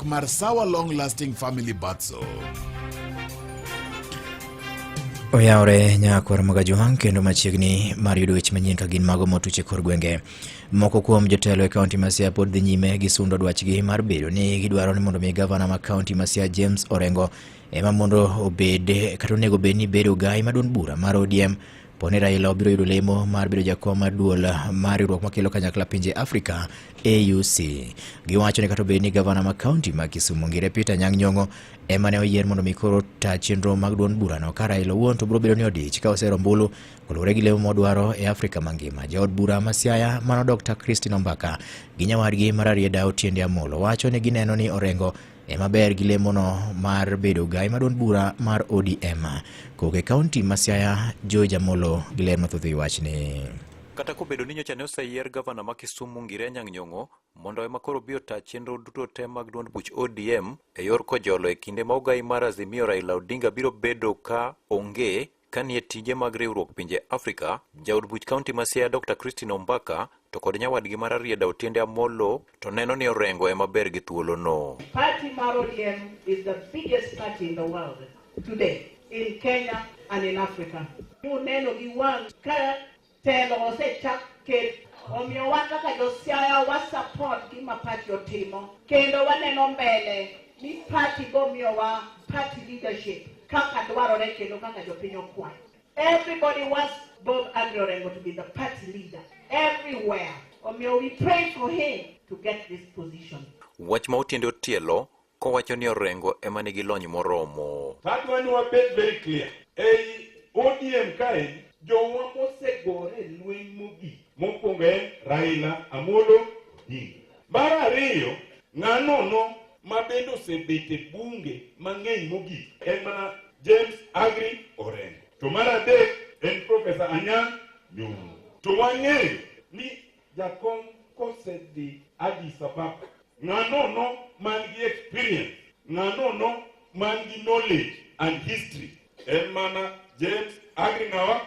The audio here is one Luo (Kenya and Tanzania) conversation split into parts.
mar Sawa Long Lasting Family Bath Soap. Oyawore nyakwar Magajuang kendo machiegni mar yudo weche manyien ka gin mago motuche kor gwenge. Moko kuom jotelo e kaunti ma Siaya pod dhi nyime gi sundo dwachgi mar bedo ni gidwaro ni mondo mi gavana ma kaunti ma Siaya James Orengo ema mondo obed kata onego bed ni bedo gai maduong' bura mar ODM Poni Raila obiro yudo lemo mar bedo jakom mar duol mar riwruok makelo kanyakla pinje Afrika AUC. Giwacho ni kata obedo ni gavana ma kaunti ma Kisumu ngire Peter Nyang' Nyong'o ema ne oyier mondo mi koro ta chenro mag duond burano ka Raila owuon to biro bedo ni odich ka osero ombulu koluwore gi lemo modwaro e Afrika mangima. Jaod bura ma Siaya mano Dr. Christine Ombaka gi nyawadgi Mararieda Otiende Amolo wacho ni gineno ni Orengo e maber gi lemono mar bedo gai maduond bura mar ODM koke kaunti ma Siaya George Amolo gi ler mathoth e wachni. Kata kobedo ni nyocha ne oseyier gavana ma Kisumu Ngire Anyang' Nyong'o mondo ema koro bi ota chenro duto te mag duond buch ODM e yor kojolo e kinde ma ogai mar Azimio Raila Odinga biro bedo ka onge, Kanie tije mag riwruok pinje Afrika, jaod buch kaunti ma Siaya Dr. Christine Ombaka to kod nyawadgi mar Arieda Otiende Amolo to neno ni Orengo ema ber gi thuolono. Party mar ODM is the biggest party in the world today in Kenya and in Africa. Uneno gi wang' ka Telo osechak ket omiyo wan kaka josiaya wa support gima party otimo kendo waneno mbele ni party bomiyowa party leadership kaka dwarore kendo kaka jopiny okwayo everybody wants Bob Andrew Orengo to be the party leader everywhere omiyo we pray for him to get this position Wach ma Otiende Otielo kowacho ni Orengo ema nigi lony moromo. Adwa ni wabed very clear. Ei ODM kae jowa mosegore lweny mogik mokwongo en Raila Amolo Odinga. Mar ariyo ng'ano no ma bende osebet e bunge mang'eny mogik en mana James Agri Orengo. To mar adek en Profesa Anyang' Nyong'o. To wang'eyo ni Jakom kosedhi Addis Ababa, ng'anono man gi experience, ng'anono man gi knowledge and history en mana James Agri Ng'awa.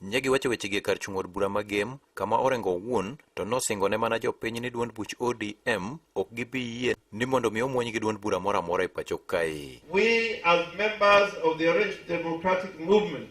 Nye giwacho wechegi e kar chung' od bura magem, kama Orengo owuon to nosingo ne mana jopiny ni duond buch ODM ok gibi yie ni mondo mi omwony gi duond bura moro amora e pacho kae. We as members of the Orange Democratic Movement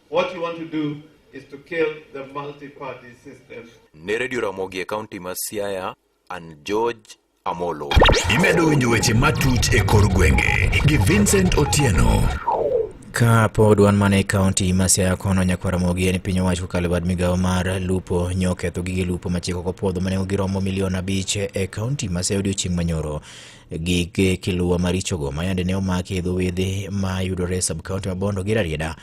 What you want to do is to kill the multi-party system. Ne Radio Ramogi e kaunti ma Siaya, an George Amolo. Imedo winjo weche matut e kor gwenge gi Vincent Otieno. Ka pod wan mana e kaunti ma Siaya kono nyakwara mogi en piny owacho kokalo bad migawo mar lupo nyo ketho gige lupo machiko kopwodho mane giromo milion abich e kaunti ma Siaya odiochieng' manyoro. Gige kiluwa marichogo ma yande ne omaki e dho wedhe ma yudore e subkaunti ma Bondo gi Rarieda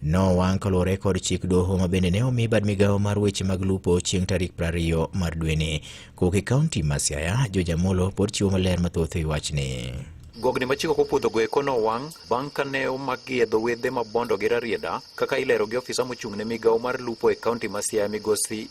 nowang' kaluwore kod chik doho ma bende ne omi bad migawo mar weche mag lupo chieng' tarik 20 mar dweni. Kowuok e kaunti ma Siaya, George Amolo pod chiwo maler mathoth e wi wachni. Gogni ma chik ok opwodhogo eko nowang' bang' ka ne omakgi e dho wedhe ma Bondo gi Rarieda kaka ilero gi ofisa mochung' ne migawo mar lupo e kaunti ma Siaya migosi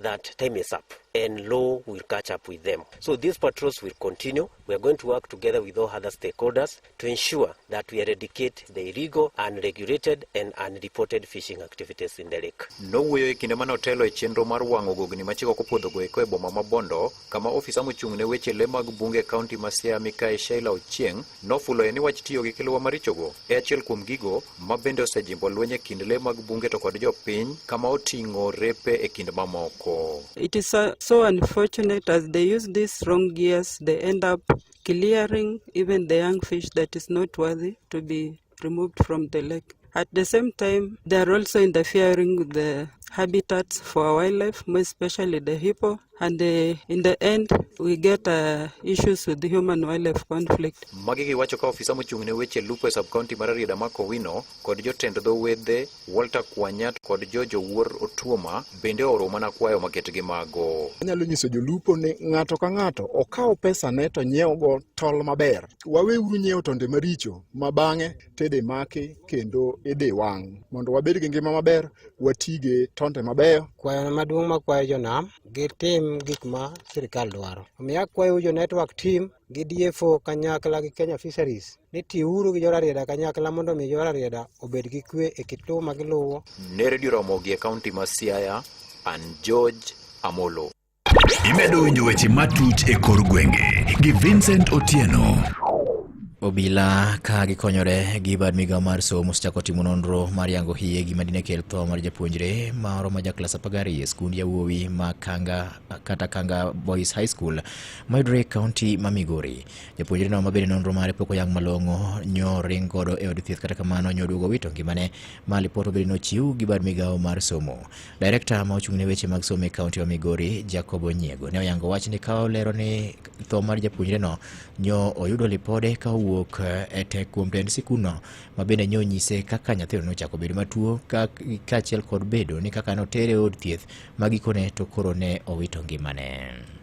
that time is up and law will catch up with them. So these patrols will continue. We are going to work together with all other stakeholders to ensure that we eradicate the illegal, unregulated and unreported fishing activities in the lake. Nowuoyo e kinde mane otelo e chenro mar wang'o gogni ma chiko kopodhogo eko e boma ma Bondo, kama ofisa mochung' ne weche le mag bunge e kaunti ma Siaya Mikayi Sheila Ochieng' Nofuloe ni wach tiyo gi kiluwa marichogo e achiel kuom gigo ma bende osejimbo lweny e kind le mag bunge to kod jopiny kama oting'o repe e kind mamoko. It is uh, so unfortunate as they use these wrong gears they end up clearing even the young fish that is not worthy to be removed from the lake. At the same time, they are also interfering with the habitats for wildlife, more especially the hippo. And uh, in the end, we get uh, issues with the human wildlife conflict. Magi giwacho ka ofisa mochung' ne weche lupo e sub-county mar Rarieda Mark Owino kod jotend dho wedhe Walter Kwanyat kod George Owuor Otuoma bende ooro mana kwayo maket gi mago. Anyalo nyiso jolupo ni ng'ato ka ng'ato okaw pesane to nyiewogo tol maber waweuru nyiewo tonde maricho ma bang'e tede maki kendo idhi wang' mondo wabed gi ngima maber watige tonde mabeyo kwayona maduong' makwayo jonam gitim gik ma sirikal dwaro omiyo akwayou jo network team gi DFO kanyakla gi Kenya Fisheries ni tiuru gi jorarieda kanyakla mondo omi jorarieda obed gi kwe e kit lowo ma giluwo. Ne redio Ramogi e kaunti ma Siaya, an George Amolo. Imedo winjo weche matut e kor gwenge gi Vincent Otieno. Obila ka gikonyore gi bad migawo mar somo osechako timo nonro mar yango hie gima dine kel tho mar japuonjre moro ma jaklas apar gariyo e skund yawuowi ma Kanga kata Kanga Boys High School mayudore e kaunti ma Migori. Japuonjreno ma bende nonro mare pok oyang malong'o nyo ring godo e od thieth kata kamano nyo oduogo wito ngimane ma lipot obedi nochiw gi bad migawo mar somo. Direkta ma ochung' ne weche mag somo e kaunti wa Migori, Jacob Onyiego, ne oyango wach ni ka olero ni tho mar japuonjreno nyo oyudo lipode ka owuok eh, e tek kuom tend sikunno ma bende nyo nyise kaka nyathino nochako bedo matuo kaachiel kod bedo ni kaka notere od thieth ma gikone to koro ne owito ngimane.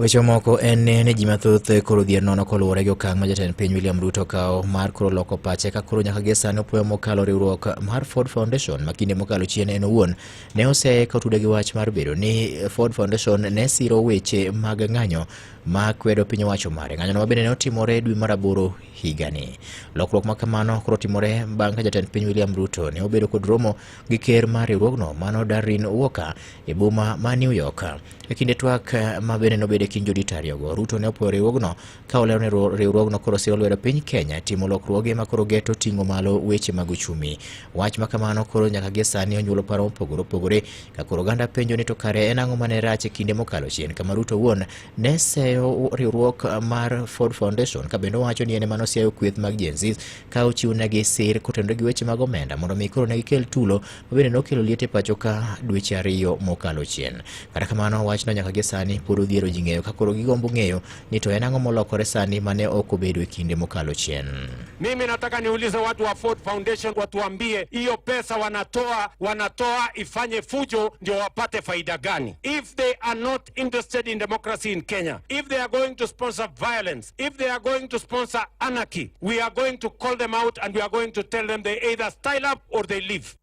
Weche moko en ni ji mathoth koro dhier nono koluwore gi okang' ma jatend piny William Ruto kawo mar koro loko pache ka koro nyaka gie sani opoyo mokalo riwruok mar Ford Foundation ma kinde mokalo chien en owuon ne oseye ka otude gi wach mar bedo ni Ford Foundation ne siro weche mag ng'anyo ma kwedo piny owacho mare. Ng'anyono ma bende ne otimore dwe mar aboro higani. Lokruok ma kamano koro timore bang' ka jatend piny William Ruto ne obedo kod romo gi ker mar riwruogno mano Darrin Walker e boma ma New York. E kinde twak ma bende nobed e kind jodito ariyogo, Ruto ne opwoyo riwruogno ka olero ni riwruogno koro siro lwedo piny Kenya timo lokruoge ma koro geto ting'o malo weche mag uchumi. Wach ma kamano koro nyaka gie sani onyuolo paro mopogore opogore ka koro oganda penjo ni to kare en ang'o mane rach e kinde mokalo chien kama Ruto wuon ne seyo riwruok mar Ford Foundation ka bende owacho ni en ema noseyo kweth mag Gen Z ka ochiw negi sir kotendo gi weche mag omenda mondo mi koro ne gikel tulo ma bende nokelo liete pacho ka dweche ariyo mokalo chien. Kata kamano wachno nyaka gi sani pod odhiero ji ng'eyo ka koro gigombo ng'eyo ni to en ang'o molokore sani mane ok obedo e kinde mokalo chien. Mimi nataka niulize watu wa Ford Foundation watuambie hiyo pesa wanatoa wanatoa ifanye fujo ndio wapate faida gani? If they are not interested in democracy in Kenya, if they are going to sponsor violence, if they are going to sponsor anarchy, we are going to call them out and we are going to tell them they either style up or they leave.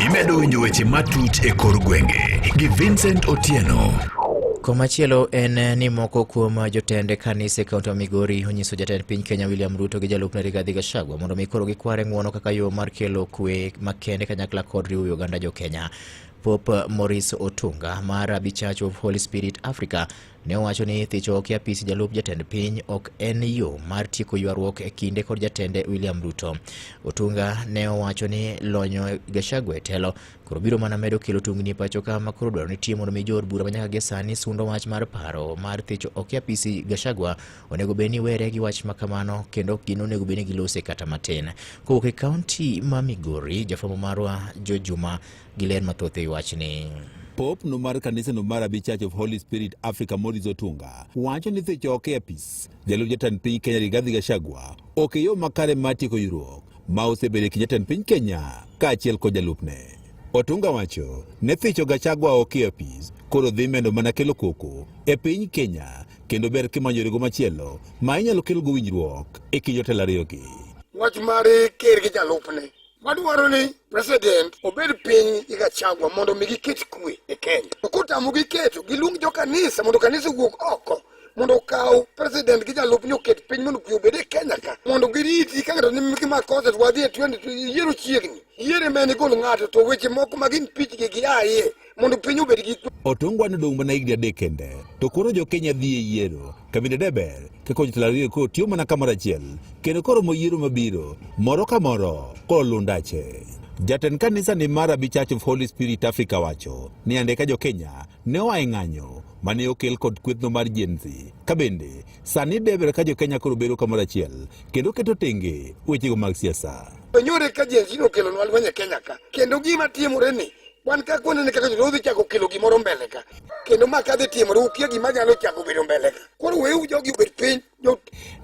Imedo winjo weche matut e kor gwenge gi Vincent Otieno. Komachielo en eh, ni moko kuom eh, jotend kanise kaunti ma Migori onyiso jatend piny Kenya William Ruto gi jalupne Rigathi Gachagua to mondo mi koro gikware ng'uono kaka yo mar kelo kwe makende kanyakla kod riwo oganda jo Kenya. Pope Maurice Otunga mar Abi Church of Holy Spirit Africa ne owacho ni thicho ok apis jalup jatend piny ok en yo mar tieko ywaruok e kinde kod jatende William Ruto. Otunga ne owacho ni lonyo Gachagua e telo koro biro mana medo kelo tungni e pacho ka ma koro dwaro ni timo mondo mi jood bura manyaka gi sani sundo wach mar paro mar thicho ok apisi Gachagua onego bed ni were gi wach ma kamano kendo ok gin onego bed ni gilose kata matin. Kowuok e kaunti ma Migori, jafwambo marwa Jo Juma gi ler mathoth e wachni. Pope no mar kanisa no mar Abi Church of Holy Spirit Africa Maurice Otunga wacho ni thicho ok e apis jalup jatend piny Kenya Rigathi Gachagua ok e yo makare mar tieko ywaruok ma osebedo e kind jatend piny Kenya kaachiel kod jalupne. Otunga wacho ne thicho Gachagua ok e apis koro dhi medo mana kelo koko e piny Kenya kendo ber kimanyo yorego machielo ma inyalo kelgo winjruok e kind jotelo ariyogi. Wach mar ker gi jalupne wadwaro ni president obed piny gi Gachagua mondo mi giket kwe e Kenya. To kotamo giketo giluong jo kanisa mondo kanisa owuog oko mondo okaw president gi jalupne oket piny mondo kwe obed e Kenya ka mondo giriti ka ng'ato nimgi makosa to wadhi e 20 yiero chiegni yiere mene gol ng'ato to weche moko magin pichgi gi aye mondo piny obed gi kwe. Otongwa nodong' mana higni adek kende to koro jo Kenya dhi e yiero. Kabinde deber kaka jotelo ariyo koro tiyo mana kamoro achiel kendo koro mo yiero mabiro moro ka moro koro lundache. Jatend kanisa ni mar Abi Church of Holy Spirit Africa wacho ni ande ka jo Kenya ne oa e ng'anyo mane okel kod kwethno mar Gen Z. Ka bende sani deber ka jo Kenya koro bedo kamoro achiel kendo keto tenge wechego mag siasa. Wenyore ka Gen Z nokelonwa lweny e Kenya ka kendo gima timore ni Wan ka kwano ni kaka jodolo dhi chako kelo gimoro mbele ka. Kendo ma kadhi timore ukia gima nyalo chako bedo mbele ka. Koro weu jogi obed piny.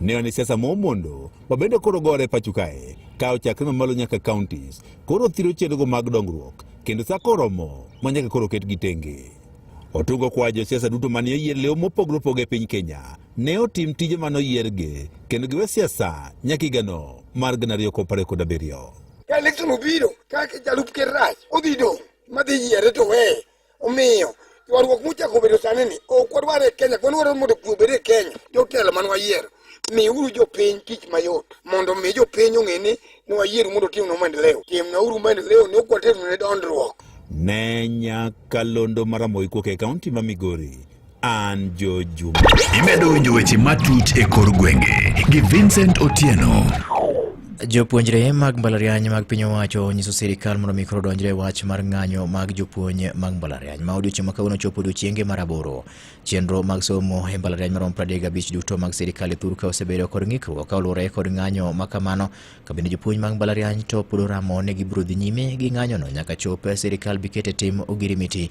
Ne wane siasa mo mondo wabende koro gore pacho kae kawo chakre mamalo nyaka counties koro thiro chenrogo mag dongruok kendo sa koromo ma nyaka koro ket gi tenge otungo kwa josiasa duto mane oyier lew mopogre opogre e piny kenya ne otim tije mane oyiergi kendo giwe siasa nyaka higano mar gana ariyo kod apar kod abiriyo Ka election obiro, ka jalup ker rach, odhi dong' madhi yiere to weye. Omiyo, ywaruok mochako bedo sani ni ok wadwar e Kenya, wadwaro mondo kwe obed e Kenya. Jotelo man wayiero, miuru jopiny tich mayot mondo mi jopiny ong'e ni ne wayiero mondo timnwa maendeleo. Timnauru maendeleo ne ok waternu ne dondruok. Ne Nyakalondo Maramoiko e kaunti ma Migori. An Jo Juma. Imedo winjo weche matut e kor gwenge gi Vincent Otieno. Jopuonjre mag mbalariany mag piny owacho onyiso sirkal mondo mi koro odonjre e wach mar ng'anyo mag jopuonj mag mbalariany ma odiochieng' ma kawuono chopo odiochienge mar aboro. Chenro mag somo e mbalariany maromo 35 duto mag sirkal e thur ka osebedo kod ng'ikruok ka oluwore kod ng'anyo ma kamano. Ka bende jopuonj mag mbalariany to pod oramo ne gibiro dhi nyime gi ng'anyono nyaka chop sirkal bi ket e tim ogirimiti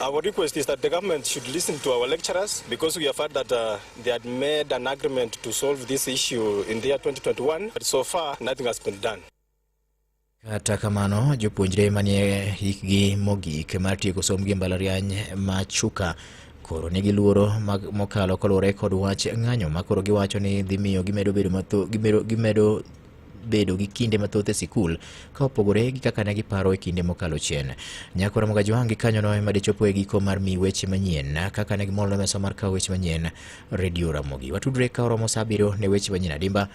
Our request is that the government should listen to our lecturers because we have heard that uh, they had made an agreement to solve this issue in the year 2021, but so far nothing has been done. Kata kamano jopuonjre manie hikgi mogik mar tieko somb gi mbalariany ma Chuka koro nigi luoro mokalo koluwore kod wach ng'anyo ma koro giwacho ni dhi miyo gimedo bedo matho gimedo gimedo bedo gi kinde mathoth e sikul ka opogore gi kaka ne giparo e kinde mokalo chien. Nyako Ramoga Johangi kanyono ema dichopo e giko mar mi weche manyien kaka ne gimol mesa mar kawo weche manyien redio Ramogi. Watudre ka oromo saa abiriyo ne weche manyien adimba.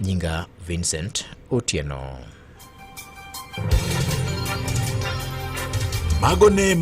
Nyinga Vincent Otieno. Mago ne